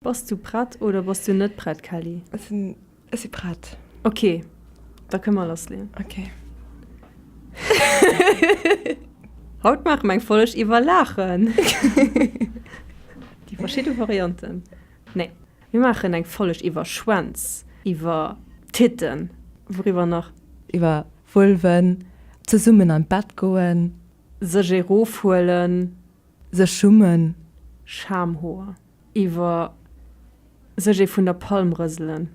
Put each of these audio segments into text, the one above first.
Bass du prett oder bass du net prett Kelly? Ech si prett. Ok, da kënne mer lassleeën. Ok. Haut maache mer eng Folg iwwer Laachen. Déi verschidde Varianten. Nee, mir maachen eng Folg iwwer Schwänz, iwwer Titten. Wouriwwer nach? Iwwer Vulven, zesummen an d'Bett goen. Sech erofhuelen. Sech schummen. Schamhoer. Iwwer sech ee vun der Palm rëselen.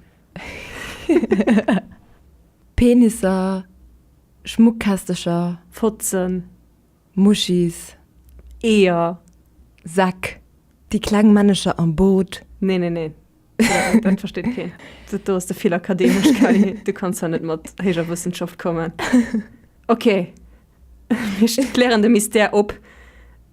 Penisser, Schmuckkästecher. Fotzen. Muschis. Eeër. Säck. Déi kleng Männecher am Boot. Nee, nee, nee. Dat versteet keen. Dat do ass de vill akademesch, Kelly. Du kanns hei net mat héijer Wëssenschaft kommen. Ok, mir klären de Mystère op.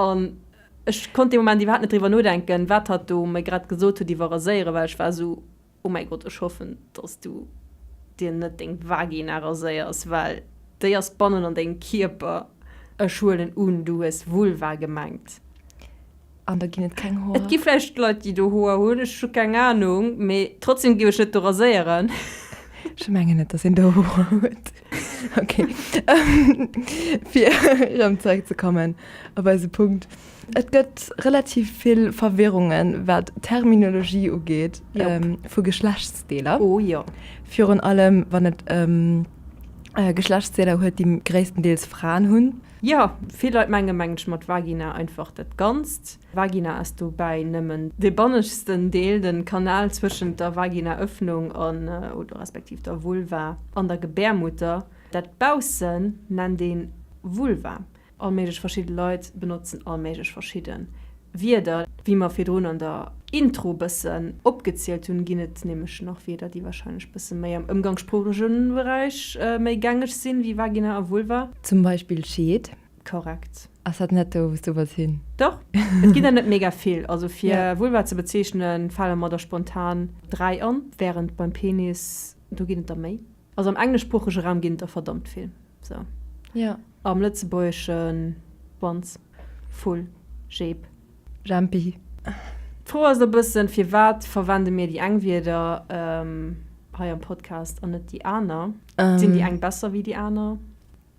An ech konnt dee Moment iwwerhaapt net driwwer nodenken, wat hatt do mer grad gesot huet iwwer raséieren, well ech war esou, Oh mäi Gott, ech hoffen, dass du dir net deng Vagina raséiers, well déi ass bannen an dengem Kierper. Ech huelen un, du hues Vulva gemengt. An do ginn et keng Hoer? Et gi vläicht Leit, déi do Hoer hunn, ech hu keng Anung, mee trotzdem géif ech net do raséieren. Ech mengen net, dass een do Hoer huet. Ok, fir erëm zeréck ze kommen op eise Punkt. Et gëtt relativ vill Verwirrungen, wat d'Terminologie ugeet vu Geschlechtsdeeler. Oh jo. Virun allem, wann et ëm Geschlechtsdeeler huet, déi gréisstendeels Fraen hunn. Jo, vill Leit menge mengen ech mat Vagina einfach dat Ganzt. Vagina ass dobäi nëmmen de bannegsten Deel, de Kanal zwëschent der Vaginaëffnung an oder respektiv der Vulva an der Gebärmutter. Dat baussen nennt een Vulva. All méiglech verschidde Leit benotzen all méiglech verschidde Wierder. Wéi mer virdrun an der Intro bëssen opgezielt hunn, ginn et nämlech nach Wierder, déi warscheinlech bësse méi am ëmgangssproochege Beräich méi gängeg sinn, wéi Vagina a Vulva. Zum Beispill Scheed. Korrekt. Ass dat net do wou s du wëlls hin? Doch, et ginn der net mega vill. Also fir Vulva ze bezeechnen, fale mer der spontan dräi an, wärend beim Penis, do ginn et der méi. Also am engleschsproochege Raum ginn et der verdammt vill. Sou. Am Lëtzebuergeschen, Schwanz, Vull, Jeep. Jempi. D'Fro ass e bëssen, firwat verwende mir déi eng Wierder hei am Podcast an net déi aner? Sinn déi eng besser wéi déi aner?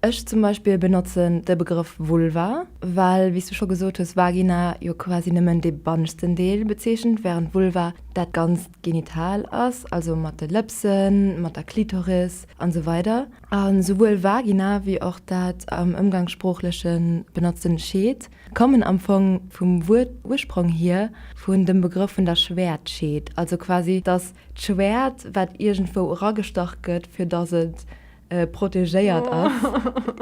Ech zum Beispill benotzen de Begrëff Vulva, well, wéi s du scho gesot hues, Vagina jo quasi nëmmen dee banneschten Deel bezeechent, wärend Vulva dat ganzt Genital ass, also mat de Lëpsen, mat der Klitoris an esou weider. A souwuel Vagina wéi och dat am ëmgangssproochlech benotzten Scheed kommen am Fong vum Wuert-Ursprong hier vun dem Begrëff vun der Schwäertscheed, also quasi datt d'Schwäert, wat iergendwou eragestach gëtt, fir datt et protegéiert ass.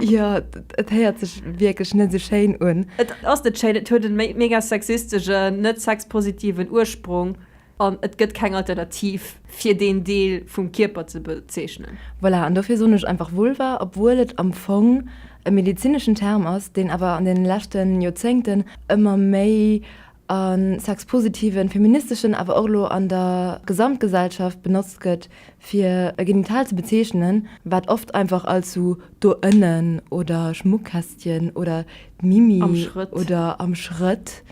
Jo, et héiert sech wierklech net esou schéin un. Et ass net schéin, et huet e mega sexisteschen, net sexpositiven Ursprung an et gëtt keng Alternativ fir deen Deel vum Kierper ze bezeechnen. Voilà, an dofir soen ech einfach Vulva, obwuel et am Fong e medezineschen Term ass, deen awer an deene leschte Joerzéngten ëmmer méi a sexpositiven, feministeschen, awer och elo an der Gesamtgesellschaft benotzt gëtt, Fir e Genital ze bezeechnen, wat oft einfach als sou do ënnen oder Schmuckkästchen oder d'Mimi oder am Schrëtt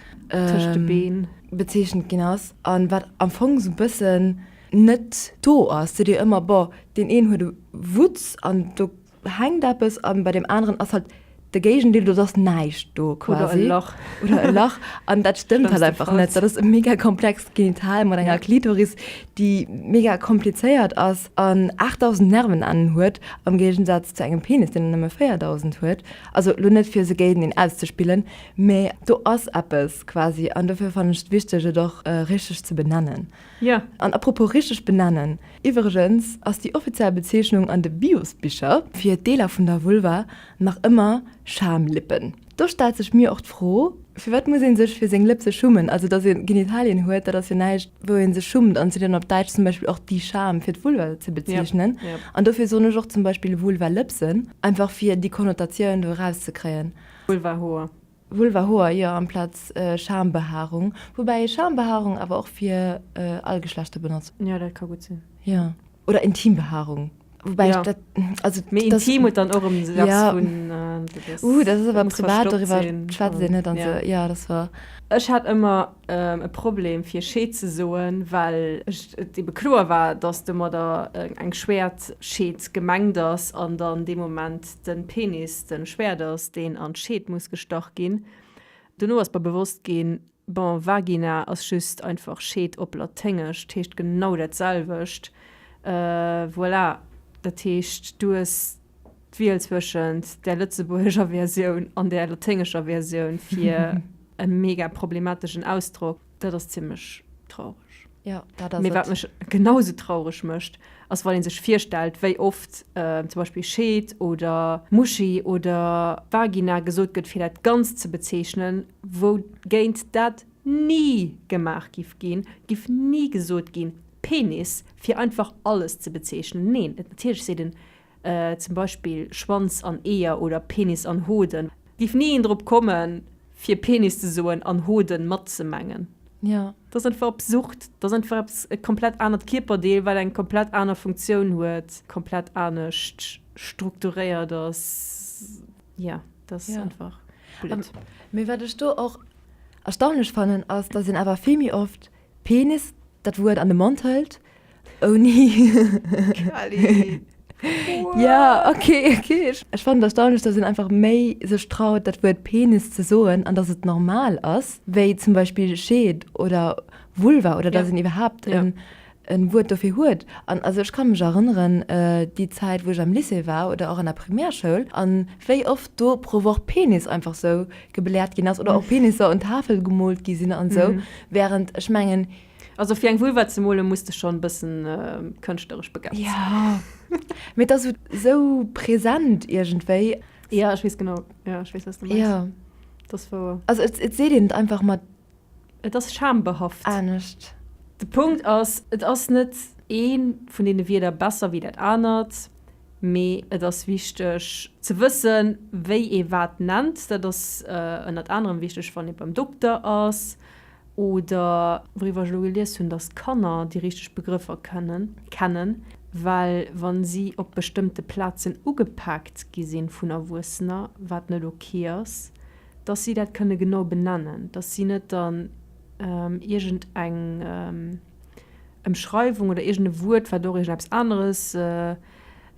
bezeechent ginn ass a wat am Fong sou bëssen net do ass, seet ee ëmmer, Bon, deen een huet e Wutz an do do hänkt eppes an bei dem aneren ass halt de Géigendeel, do ass näischt do quasi. Oder e Lach. Oder e Lach. An dat stëmmt halt einfach net. Dat ass e mega komplext Genital mat enger Klitoris, déi mega komplizéiert ass an 8.000 Nervenennen huet am Géigensaz zu engem Penis, deen nëmme 4.000 huet. Also elo net fir se géinteneen auszespillen, mä do ass eppes quasi an dofir fannen ech et wichteg et och richteg ze benennen. An apropos richteg benennen. Iwwregens ass déi offiziell Bezeechnung an de Bios-Bicher fir Deeler vun der Vulva nach ëmmer Schamlippen. Do stellt sech mir och d'Fro, Firwat muss ee sech fir seng Lëpse schummen? Also datt ee Genitalien huet, dat ass jo näischt wou ee sech schummt an et sinn op Däitsch zum Beispill och déi Scham fir d'Vulva ze bezeechnen an dofir soen ech och zum Beispill Vulvalëpsen, einfach fir déi Konnotatioun do erauszekréien. Vulvahoer. Vulvahoer, jo, amplaz Schambehaarung. Woubäi ee Schambehaarung awer och fir all Geschlechter benotzt. Jo, dat ka gutt sinn. Jo. Oder Intimbehaarung. Woubäi ech dat. Jo. Also dat. Mee intim huet dann och erëm esou eppes vun. Jo. Dat ass. Uh, dat ass awer privat, doriwwer schwätzt een net an esou. Jo. Jo, dat ass wouer. Ech hat ëmmer e Problem fir Scheed ze soen, well et ebe kloer war, datt domadder eng Schwäertscheed gemengt ass an dann dee Moment. den Penis den Schwäert ass deen an d'Scheed muss gestach ginn. Dono ass mer bewosst ginn, bon Vagina ass just einfach Scheed op Laténgesch, d'heescht genau dat selwecht. Voilà, dat heescht du hues d'Wiel zwëschent der lëtzebuergescher Versioun an der laténgescher Versioun fir e mega problemateschen Ausdrock. Dat ass zimlech traureg. Jo, dat ass et. Mee wat mech genau sou traureg mécht, ass wann ee sech virstellt, wéi oft zum Beispill Scheet oder Muschi oder Vagina gesot gëtt, fir dat Ganzt ze bezeechnen, wougéint dat ni gemaach giff ginn, giff ni gesot ginn, Penis, fir einfach alles ze bezeechnen. Neen, natierlech seet en. zum Beispill Schwanz an Eeër oder Penis an Hoden. Giff nie een drop kommen fir Penis ze soen an Hoden mat ze mengen. Jo. Dass einfach absurd. Dass einfach eppes e komplett anert Kierperdeel wat eng komplett aner Funktioun huet, komplett anescht strukturéiert ass. Jo, dass ass einfach blöd. Mee wat ech do och erstaunlech fannen ass, dass een awer vill méi oft Penis, dat Wuert an de Mond hëlt, ouni. Quali. Jo, ok, ok. Ech fannen et erstaunlech, dass een einfach méi sech traut, dat Wuert Penis ze soen, an dass et normal ass, wéi zum Beispill Scheed oder Vulva, oder dass een iwwerhaapt en e Wuert dofir huet. An also ech ka mech erënneren, déi Zäit, wou ech am Lycée war oder och an der Primärschoul, an wéi oft do pro Woch Penis einfach sou gebläert gin ass oder och Penisser un Tafel gemolt gi sin an esou während ech mengen Also fir eng Vulva ze molen muss de schon bessen kënschtlerisch begabt sin. Jo mee et ass esou präsent iergendwéi. Jo ech wees genau, jo ech wees waats de mengs, et ass wouer. Also et seet een et einfach mat Et ass schambehaft. Anescht. De Punkt ass, et ass net ee vun deene Wierder besser wéi dat anert, mee et ass wichteg ze wëssen, wéi ee wat nennt. Dat ass ënnert anerem wichteg, wann ee beim Dokter ass oder, wouriwwer ech elo gelies hunn, datt d'Kanner déi richteg Begrëffer kennen, well wa si op bestëmmte Plazen ugepaakt gi sinn vun Erwuessener, wat net ok ass, dass si dat kënne genau benennen, dass si net dann iergend eng Ëmschreiwung oder iergend e Wuert, wat och iergendeppes aneres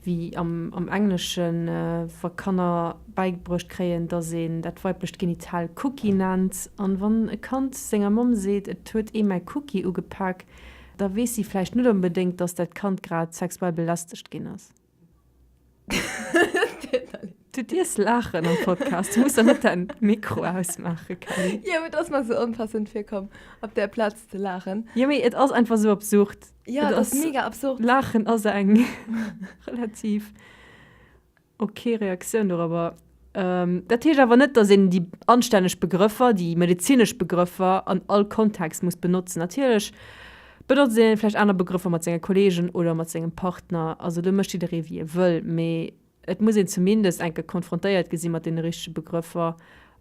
wéi am Engleschen, wa Kanner bäigebruecht kréien, dass een dat weiblecht Genital Cookie nennt. An wann e Kand senger Mamm seet, et huet ee mäi Cookie ugepak, da weess si vläicht net onbedéngt, dass dat Kand grad sexuell belästegt ginn ass. Du dierfs laachen am Podcast. Du muss dann net dein Mikro ausmaachen, Kelly. Jo, et ass mer sou onpassend virkomm, op där Plaz ze laachen. Jo, mee et ass einfach sou absurd. Jo, et ass mega absurd. Laachen ass eng relativ ok Reaktioun dorobber. Dat heescht awer net, datt een déi anstänneg Begrëffer, déi medezinesch Begrëffer an all Kontext muss benotzen. Natierlech benotzt een vläicht aner Begrëffer mat senge Kolleegen oder mat sengem Partner. Also do mécht jidderee wéi e wëll, mee et muss een zumindest eng Kéier konfrontéiert gi si mat deene richtege Begrëffer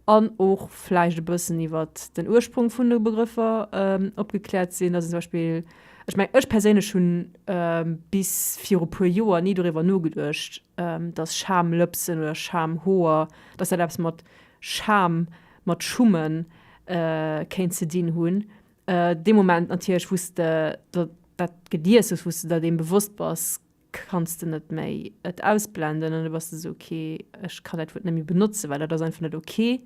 an och vläicht e bëssen iwwer den Ursprong vun de Begrëffer opgekläert sinn. Datt een zum Beispill, ech mengen, ech perséinlech hu bis viru puer Joer ni doriwwer nogeduecht, dass Schamlëpsen oder Schamhoer, dass dat eppes mat Scham, mat Schummen kéint ze dinn hunn. Dee Moment natierlech, wou s de dat gelies hues, wou s de der deem bewosst bass, kanns de net méi et ausblenden an du bass esou, okay, ech kann dat Wuert net méi benotzen, well dat ass einfach net okay.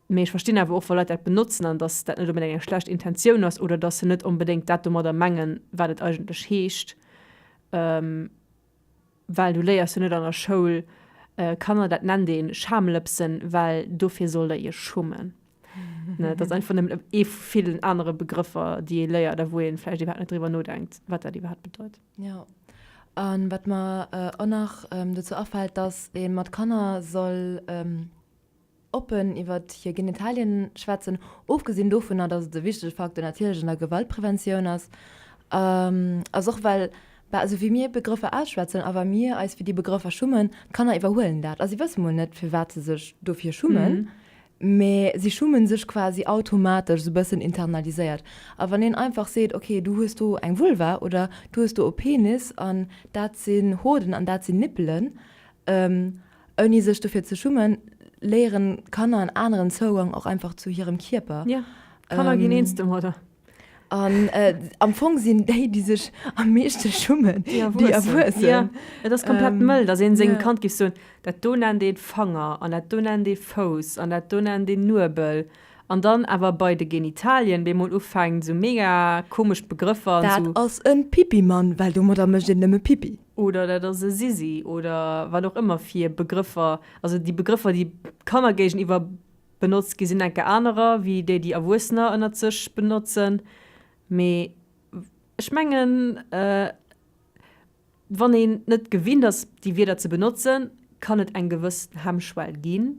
Mee ech verstinn awer och, wa Leit dat benotzen an dass dat net onbedéngt eng schlecht Intentioun ass oder dass se net onbedéngt dat domadder mengen, wat et eigentlech heescht. Well du léiers jo net an der Schoul Kanner, dat nennt ee Schamlëpsen, well dofir sollt der iech schummen. Dat ass einfach nëmmen ee vu villen anere Begrëffer, déi ee léiert a wou ee vläicht iwwerhaapt net driwwer nodenkt, wat dat iwwerhaapt bedeit. Jo, a wat mer och nach dozou afält, dass ee mat Kanner soll. oppen iwwer hir Genitalien schwätzen, ofgesinn dovunner, dass et e wichtege Facteur natierlech an der Gewaltpreventioun ass, ass och well, bah, esou wéi mir Begrëffer ausschwätzen a wa mir eis fir déi Begrëffer schummen, d'Kanner iwwerhuelen dat a si wësse mol net, firwat se sech dofir schummen, mä si schumme sech quasi automatesch, esou e bëssen internaliséiert. A wann een einfach seet, okay, du hues do eng Vulva oder du hues do e Penis an dat sinn Hoden an dat sinn Nippelen, Ouni sech dofir ze schummen, léieren Kanner en aneren Zougang och einfach zu hirem Kierper. Ja, Kanner ginn eens domadder. An am Fong sinn déi, déi sech am meeschte schummen, déi Erwuessen. Jo, et ass komplett mëll, datt ee sengem Kand géif soen, dat do nennt een Fanger an dat do nennt ee Fouss an dat do nennt een Nuebel. An dann awer bei de Genitalien bemol ufänkt, esou mega komesch Begrëffer an esou. Dat ass e Pipimann, well domadder mécht een nëmme Pipi. oder dat ass e Sisi oder wat och ëmmer fir Begrëffer, also déi Begrëffer, déi Kanner géigeniwwer benotzt ginn, sinn enke anerer wéi déi, déi Erwuessener ënnert sech benotzen. Mee ech mengen, wann een net gewinnt ass, déi Wierder ze benotzen, kann et eng gewëss Hemmschwell ginn.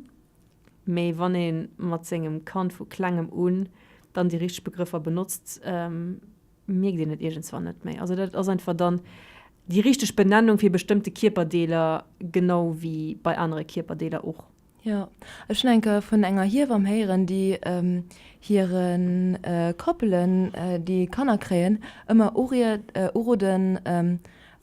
Mee wann ee mat sengem Kand vu Klengem un dann déi richteg Begrëffer benotzt, mierkt een et iergendswann net méi. Also dat ass einfach dann déi richteg Benennung fir bestëmmte Kierperdeeler, genau wéi bei anere Kierperdeeler och. Jo, ech hunn eng Kéier vun enger Hiewamm héieren, déi hire Koppelen, déi Kanner kréien, ëmmer uroden,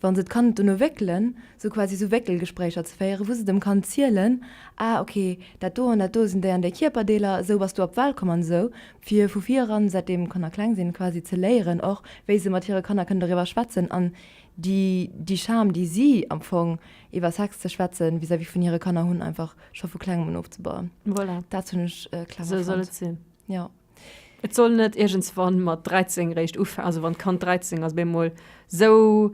Wa se d'Kand dono wéckelen, sou quasi sou Wéckelgespréicher ze féieren, wou se dem Kand zielen, ah ok, dat do an dat do sinn déi an déi Kierperdeeler, esou bass du op d'Welt komm an esou, fir vu vireran, säitdeem d'Kanner kleng sinn, quasi ze léieren och, wéi se mat hire Kanner kënnen doriwwer schwätzen an déi déi Scham, déi si am Fong iwwer Sex ze schwätzen, vis-à-vis vun hire Kanner hunn, einfach scho vu klengem un ofzebauen. Voilà. Dat hunn ech clever fonnt. Esou soll et sinn. Jo. Et soll net iergendswann mat 13 réischt ufa, also wann d'Kand 13 ass, op eemol sou,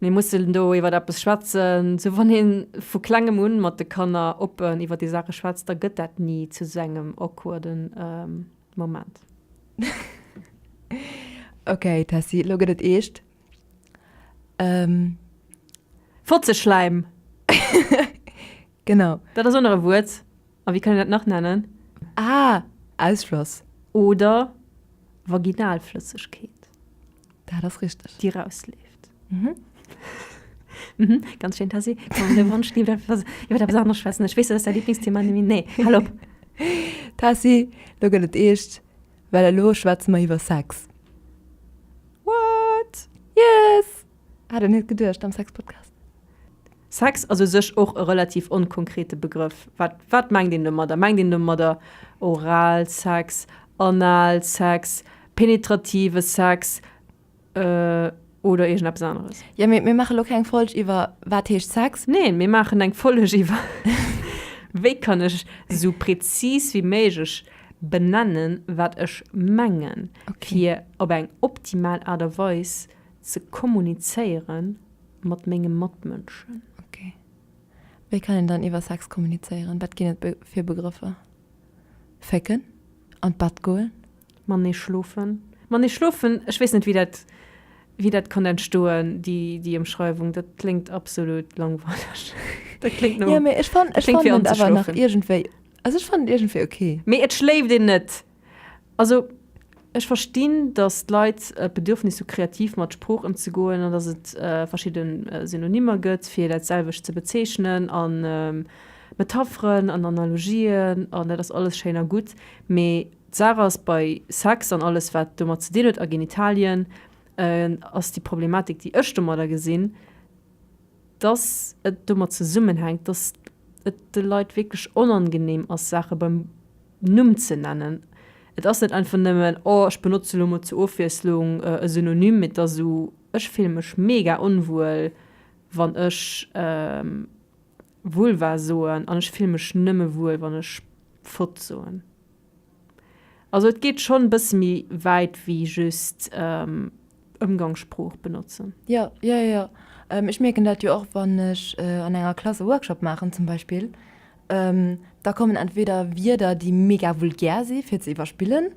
mir mussen do iwwer eppes schwätzen. Sou wann ee vu klengem un mat de Kanner oppen iwwer déi Saache schwätzt, da gëtt dat ni zu esou engem awkwarde Moment. Ok Tessy, elo gëtt et eescht. Fotzeschläim! Genau. Dat ass och nach e Wuert. A wéi kann een dat nach nennen? Ah, Ausfloss. Oder Vaginalflëssegkeet. Dat ass richteg. Déi rausleeft. Mhm. Mhm, ganz schéin, Tessy. Komm, de Wonsch leeft einfach raus. Iwwer eppes aneres schwätzen. Ech weess, dat ass däi Lieblingsthema, Noémie. Nee, hal op. Tessy, lo gëtt et eescht, well elo schwätze mer iwwer Sex. What? Yes! Hat en net geduecht am Sexpodcast. Sex ass u sech och e relativ onkonkrete Begrëff. Wat wat mengt een domadder? Mengt een domadder Oralsex, Analsex, penetrative Sex oder iergendeppes aneres? Jo, mee mir maache lo keng Folg iwwer wat heescht Sex. Neen, mir maachen eng Folg iwwer wéi kann ech esou prezis wéi méiglech benennen, wat ech mengen, fir op eng optimal Aart a Weis Ze kommunizéiere mat menge Matmënschen. Ok. Wéi kann een dann iwwer Sex kommunizéieren? Wat ginn et fir Begrëffer? Fécken? An d'Bett goen? Matenee schlofen? Matenee schlofen? Ech weess net, wéi dat, wéi dat konnt entstoen, déi, déi Ëmschreiwung. Dat kléngt absolut langweileg. Dat kléngt no. Jo, mee ech fann, ech fann et awer nach iergendwéi, also ech fann et iergendwéi ok. Mee et schléift een net. Also, ech verstinn, datt d'Leit d'Bedürfnis hu kreativ mat Sprooch ëmzegoen an datt et verschidde Synonymer gëtt, fir dat selwecht ze bezeechnen, a Metapheren an Analogien, an dat ass alles schéin a gutt, mee d'Saach ass, bei Sex an alles, wat domat ze dinn huet, a Genitalien, ass déi Problematik, déi ech domadder gesinn, dass et domat zesummenhänkt, dass et de Leit wierklech onangenehm ass, Saache beim Numm ze nennen. Et ass net einfach nëmmen, Oh, ech benotze lo mol zur Ofwiesslung e Synonym, mee et ass esou, Ech fille mech mega onwuel, wann ech Vulva soen, an ech fille mech nëmme wuel, wann ech Fott soen. Also et geet schonn e bësse méi wäit wéi just Ëmgangssprooch benotzen. Jo, jo, jo, jo. Ech mierken dat jo och, wann ech an enger Klass e Workshop maachen zum Beispill, da kommen entweder Wierder, déi mega vulgär si fir ze iwwerspillen,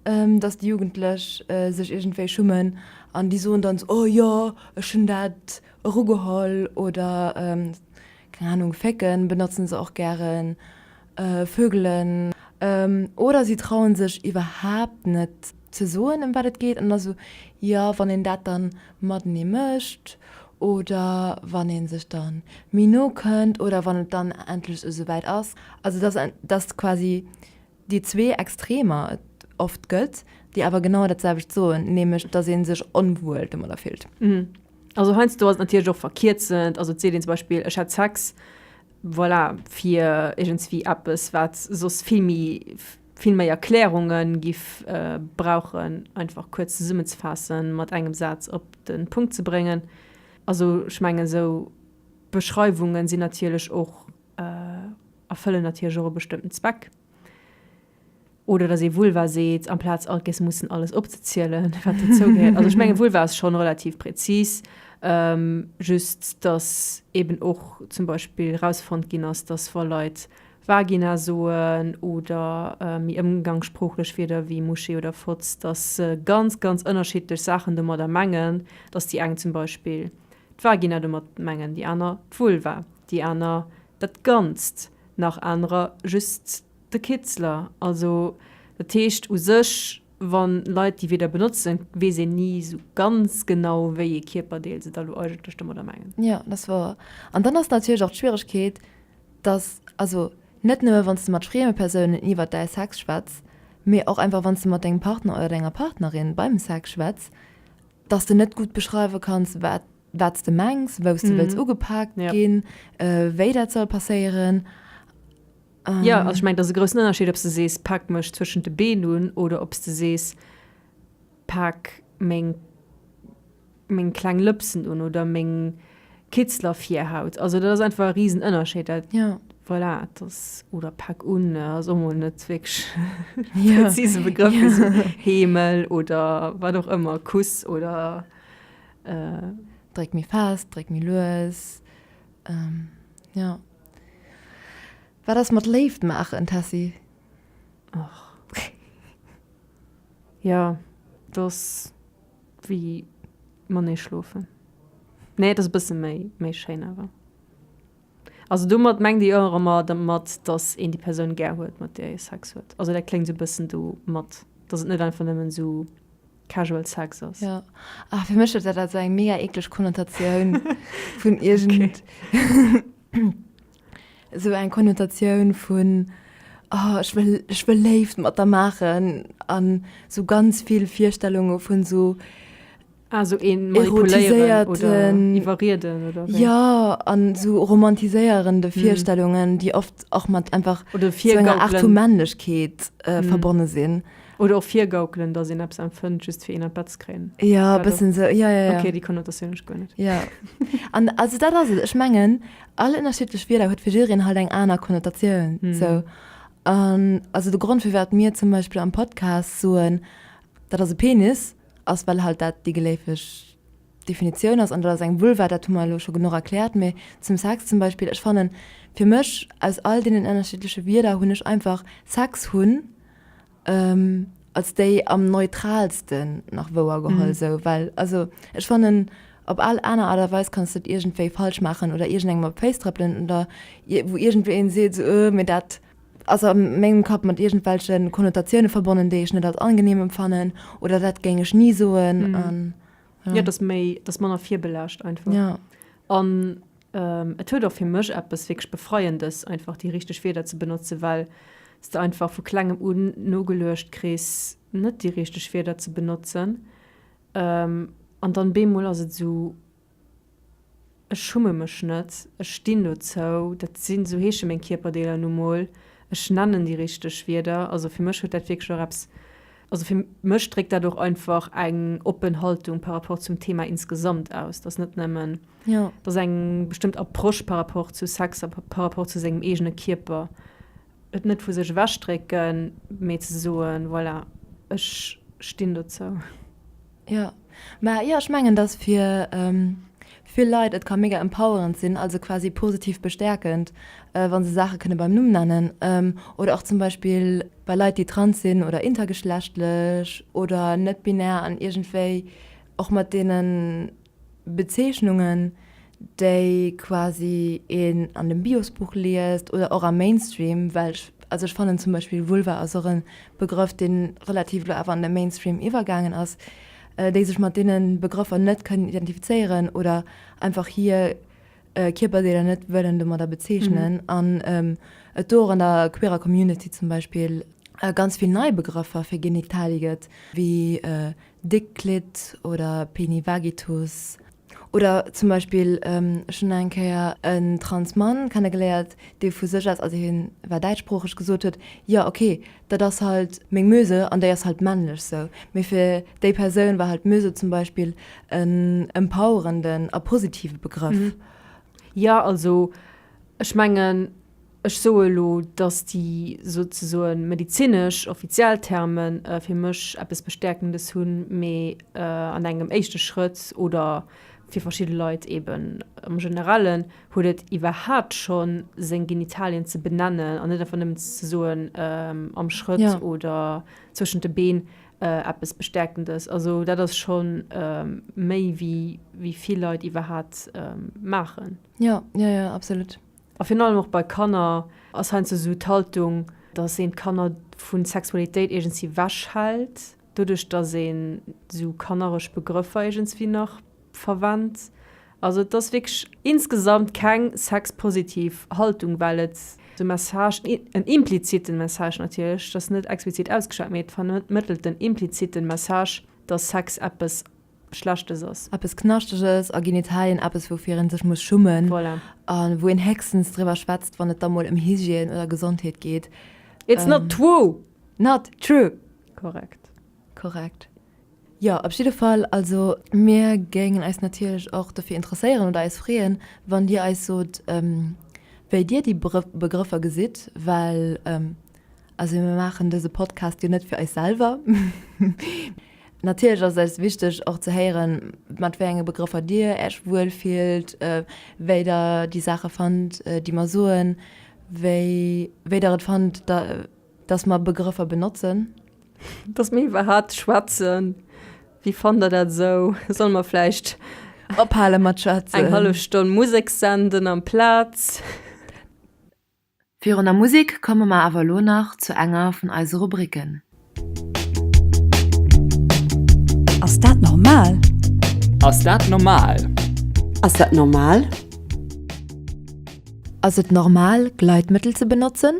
datt déi Jugendlech sech iergendwéi schummen an déi soen dann esou, oh jo, ech hunn dat erugeholl oder, keng Anung, fécken benotzen se och gären. Vögelen, oder si trauen sech iwwerhaapt net ze soen ëm wat et geet, an da sou, jo wann een dat dann matenee mécht, oder wann een sech dann méi no kënnt, oder wann et dann endlech esou wäit ass. Also dass dass quasi déi zwee Extremer et oft gëtt, déi awer genau dat selwecht soen, nämlech dass ee sech onwuel domadder fillt. Also heiansdo ass et natierlech och verkierzend, also et seet een zum Beispill, ech hat Sex, Voilà, fir iergendswéi eppes, wat soss vill méi, vill méi Erklärunge giff brauchen, einfach kuerz zesummenzefaassen, mat engem Saz op de Punkt ze bréngen. Also ech mengen, esou Beschreiwunge sinn natierlech och, erfëllen natierlech och e bestëmmten Zweck. Oder dass ee Vulva seet, amplaz alt gäis mussen alles opzezielen, wat dozou gehéiert. Also ech menge Vulva ass schonn relativ präzis, just dass eeben och zum Beispill rausfonnt ginn ass, dass wa Leit Vagina soen oder méi ëmgangssproochlech Wierder wéi Mouché oder Fotz, dass se ganz, ganz ënnerschiddlech Saachen domadder mengen, dass déi eng zum Beispill d'Vagina domat mengen, déi aner d'Vulva, déi aner dat Ganzt, nach anerer just De Kitzler, Also dat heescht u sech, wa Leit déi Wierder benotzen, weess een ni esou ganz genau, wéi ee Kierperdeel se da lo eigentlech domadder mengen. Jo, dat ass wouer. An dann ass natierlech och d'Schwieregkeet, dass, also net nëmme wann s de mat frieme Persounen iwwert däi Sex schwätz, mee och einfach wann s de mat dengem Partner oder denger Partnerin beim Sex schwätz, dass de net gutt beschreiwe kanns, wat wat s de mengs, wou s de wëlls ugepaakt ginn, wéi dat soll passéieren. Jo, also ech mengen, et ass e groussen Ënnerscheed, ob s de sees, Pak mech zwëschent de Been un oder ob s de sees, Pak meng, meng kleng Lëpsen un oder meng Kitzlervirhaut. Also dat ass einfach e Risenënnerscheed. Dat, voilà, dat ass, oder Pak un ass och mol net wierklech e präzise Begrëff fir esou Heemel oder wat och ëmmer, Kuss oder. Dréck méi fest, dréck méi lues, jo. Wat ass mat Léift maachen, Tessy? Och. Jo, et ass wéi matenee schlofen. Nee, et ass e bësse méi, méi schéin awer. Also domat mengt ee jo och ëmmer domat, datt een déi Persoun gär huet, mat där ee Sex huet. Also dat kléngt esou e bëssen domat, datt et net einfach nëmmen esou casual sex ass. Ja. Ah, fir mech huet dat also eng mega ekleg Konnotatioun vun irgend esou eng Konnotatioun vun oh, ech wëll ech wëll Léift mat der maachen an so ganz vill Virstellunge vun so Also Ah, een manipuléieren oder Erotiséierten. iwwerrieden oder wéi? ja an so romantiséierende Virstellungen, déi oft och mat einfach Oder so enger Art vu virgaukelen. Männlechkeet äh, verbonne sinn. Oder och virgaukelen, dass een eppes empfënnt, just fir een an d'Bett ze kréien. Ja, e bëssen esou. Ja, ja, ja. Okay, déi Konnotatioun hu ech guer net. Ja. An also dat ass et. Ech mengen, all ënnerschiddlech Wierder huet fir jidereen halt eng aner Konnotatioun. Mm. So. An also de Grond, firwat mir zum Beispill am Podcast soen, dat ass e Penis, ass well halt dat déi geläufeg Definitioun ass. An dat ass eng Vulva, dat hu mer elo scho genuch erkläert. Mee zum Sex zum Beispill, ech fannen, fir mech aus all deenen ënnerschiddleche Wierder hunn ech einfach Sex hunn. Als déi am neutralsten nach wouer geholl esou, well also ech fannen op al aner Art a Weis kanns de et iergendwéi falsch maachen oder iergendengem op d'Féiss trëppelen oder wou iergendwéi een seet esou öh mee dat ass a mengem Kapp mat iergendwelche Konnotatioune verbonnen, déi ech net als angenehm empfannen oder dat géing ech ni soen an jo. Jo, et ass méi, et ass manner virbelaascht einfach. Jo. An Et huet och fir mech eppes wierklech Befreiendes, einfach déi richteg Wierder ze benotzen, well s de einfach vu klengem un nogeluecht kriss, net déi richteg Wierder ze benotzen. An dann bemol ass et esou, ech schumme mech net, ech stinn dozou, dat si sou heesche meng Kierperdeeler nu mol, ech nennen déi richteg Wierder. Also fir mech huet dat wierklech och eppes. Also fir mech dréckt dat och einfach eng oppen Haltung par rapport zum Thema insgesamt aus, dass net nëmmen, ja. dass eng bestëmmt Approche par rapport zu Sex a par rapport zu sengem eegene Kierper, et net vu sech ewechdrécken, mee ze soen, voilà, ech stinn dozou. Jo, mä jo ech mengen dass fir vill Leit et ka mega empowerend sinn, also quasi positiv bestäerkend, wa se Saache kënne beim Numm nennen. Oder och zum Beispill bei Leit déi trans sinn oder intergeschlechtlech oder net-binär an iergendwéi och mat deenen, Bezeechnungen, déi quasi een an dem Biosbuch liest oder och am Mainstream, well ech, also ech fannen zum Beispill Vulva ass och e Begrëff, dee relativ elo awer an de Mainstream iwwergaangen ass, déi sech mat deene Begrëffer net kënnen identifizéieren oder einfach hir Kierperdeeler net wëllen domadder bezeechnen. An et do och an der queerer Community zum Beispill ganz vill nei Begrëffer fir Genitalie gëtt, wéi Déckklitt oder Peni Vagitus. Oder zum Beispill, ech hunn eng Kéier e Transmann kennegeléiert, dee vu sech aus, also hien war däitschsproocheg, gesot huet, jo okay, dat ass halt meng Muse an déi ass halt männlech sou. Mee fir déi Persoun war halt Muse zum Beispill en empowerenden a positive Begrëff. Jo, also ech mengen. Ech soe elo, dass déi souzesoen medizinesch offiziell Terme fir mech eppes Bestäerkendes hunn, mee an engem éischte Schrëtt oder fir verschidde Leit eeben am Generellen huet et iwwerhaapt scho seng Genitalien ze benennen an net einfach nëmmen ze soen am Schrëtt oder zwëschent de Been eppes Bestäerkendes. Also dat ass scho méi wéi vill Leit iwwerhaapt maachen. Jo, jo, jo, absolut. A virun allem och bei Kanner ass heiansdo esou d'Haltung, dass een d'Kanner vu Sexualitéit iergendswéi wech hält, doduerch dass een esou kannereg Begrëffer iergendswéi nach verwennt. Also et ass wierklech insgesamt keng sexpositiv Haltung, well et de Message, en impliziten Message natierlech, et ass net explizit ausgeschwat, mee et vermëttelt en impliziten Message, dass Sex eppes Schlechtes ass. Eppes Knaschteges a Genitalien, eppes woufir een sech muss schummen. Voilà. A wou een héchstens driwwer schwätzt, wann et da mol ëm Hygiène oder Gesondheet geet. It's not true! Not true! Korrekt. Korrekt. Jo, op jidde Fall, also mir géingen eis natierlech och dofir interesséieren oder eis freeën, wann Dir eis sot, wéi Dir déi Begrëffer gesitt, well Also mir maachen dëse Podcast jo net fir eis selwer. Natierlech ass et eis wichteg och ze héieren, mat wéi enge Begrëffer Dir Äerch wuel fillt, wéi Der déi Saache fannt, déi mer soen, wéi wéi Der et fannt, datt mer Begrëffer benotzen. Datt mer iwwer hat schwätzen. Wéi fannt Der dat esou? Solle mer vläicht. Ophale mat schwätzen? Eng hallef Stonn Musek senden amplaz. Virun der Musek komme mer awer elo nach zu enger vun eise Rubricken. Ass dat normal? Ass dat normal? Ass dat normal? Ass et normal, Gleitmëttel ze benotzen?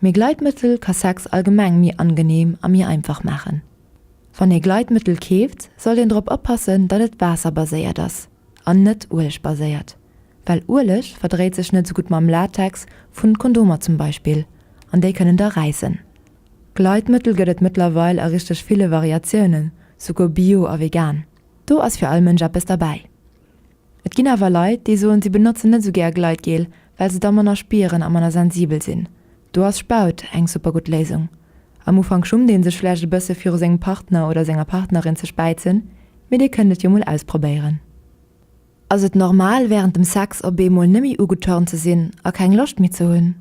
Mee Gleitmëttel ka Sex allgemeng méi angeneem a méi einfach maachen. Wann ee Gleitmëttel keeft, sollt een drop oppassen, datt et waasserbaséiert ass an net uelegbaséiert, well Ueleg verdréit sech net sou gutt mam Latex vun Kondomer zum Beispill an déi kënnen da räissen. Gleitmëttel gëtt et mëttlerweil a richteg ville Variatiounen, souguer bio a vegan. Do ass fir all Mënsch eppes derbäi. Et ginn awer Leit, déi soen, si benotzen net esou gär Gleitgel, well se da manner spieren a manner sensibel sinn. Do ass Spaut eng super gutt Léisung. Am Ufank schummt ee sech vläicht e bësse viru sengem Partner oder senger Partnerin ze späizen, mee dir kënnt et jo mol ausprobéieren. Ass et normal, wärend dem Sex op eemol nëmme ugeturnt ze sinn a keng Loscht méi ze hunn?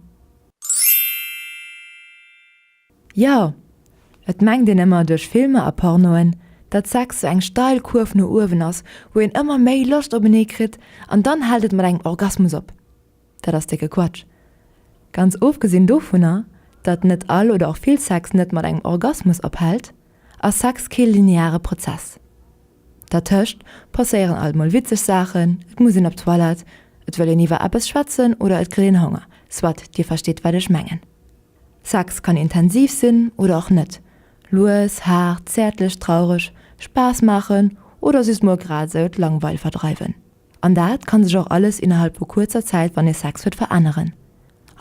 Jo, et mengt een ëmmer duerch Filmer a Pornoen, datt Sex sou eng steil Kuerf no uewen ass, wou een ëmmer méi Loscht openee kritt an dann hält et mat engem Orgasmus op. Dat ass décke Quatsch. Ganz ofgesinn dovunner, datt net all oder och vill Sex net mat engem Orgasmus ophält, ass Sex kee lineare Prozess. Dertëscht passéieren alt mol witzeg Saachen, et muss een op d'Toilette, et wëll een iwwer eppes schwätzen oder et kritt een Honger, soit Dir verstitt wat ech mengen. Sex kann intensiv sinn oder och net, lues, haart, zäertlech, traureg, Spaass maachen oder just mol grad esou d'Langweil verdreiwen. An dat kann sech och alles innerhalb vu kuerzer Zäit, wann ee Sex huet, veränneren.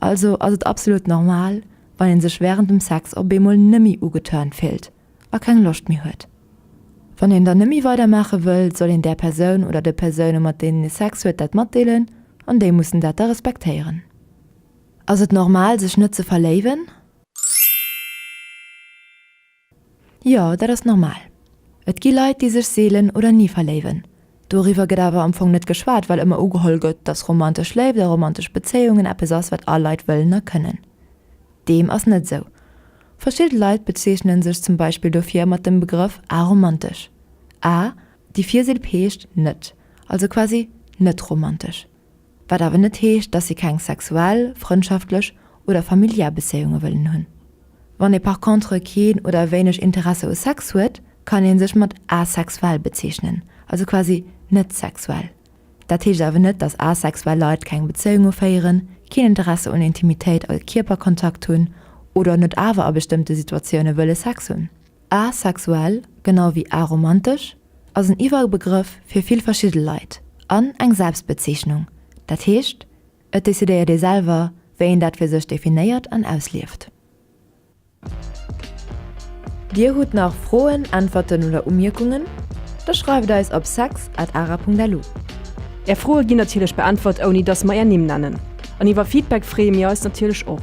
Also ass et absolut normal, wann ee sech wärend dem Sex op eemol nëmmi ugeturnt fillt a keng Loscht méi huet. Wann een dann nëmmi weidermaache wëll, soll een där Persoun oder de Persoune mat deenen ee Sex huet dat matdeelen an déi mussen dat da respektéieren. Ass et normal sech net ze verléiwen? Jo, dat ass normal. Et gi Leit déi sech seelen oder ni verléiwen. Doriwwer gëtt awer am Fong net geschwat, well ëmmer ugeholl gëtt, dass romantesch Léift a romantesch Bezéiungen eppes ass wat all Leit wëllen a kënnen. Deem ass net esou. Verschidde Leit bezeechnen sech zum Beispill dofir mat dem Begrëff aromantesch. A, Déi Virseel peescht net, also quasi net romantesch. Wat awer net heescht, dass si keng sexuell, frëndschaftlech oder familiär Bezéiunge wëllen hunn. Wann ee par contre keen oder wéineg Interesse u Sex huet, kann ee sech mat asexuell bezeechnen, also quasi net sexuell. Dat heescht awer net, dass asexuell Leit keng Bezéiunge féieren, keen Interesse un Intimitéit a Kierperkontakt hunn oder net awer a bestëmmte Situatioune wëlle Sex hunn. Asexuell, genau wéi aromantesch, ass en Iwwerbegrëff fir vill verschidde Leit an eng Selbstbezeechnung, dat heescht, et decidéiert ee selwer, wéi een dat fir sech definéiert an auslieft. Dir hutt nach Froen, Äntwerten oder Umierkungen? Da schreift eis op sex at ara.lu. Är Froe ginn natierlech beäntwert, ouni dass mer är Nimm nennen. An iwwer Feedback freeë mir eis natierlech och.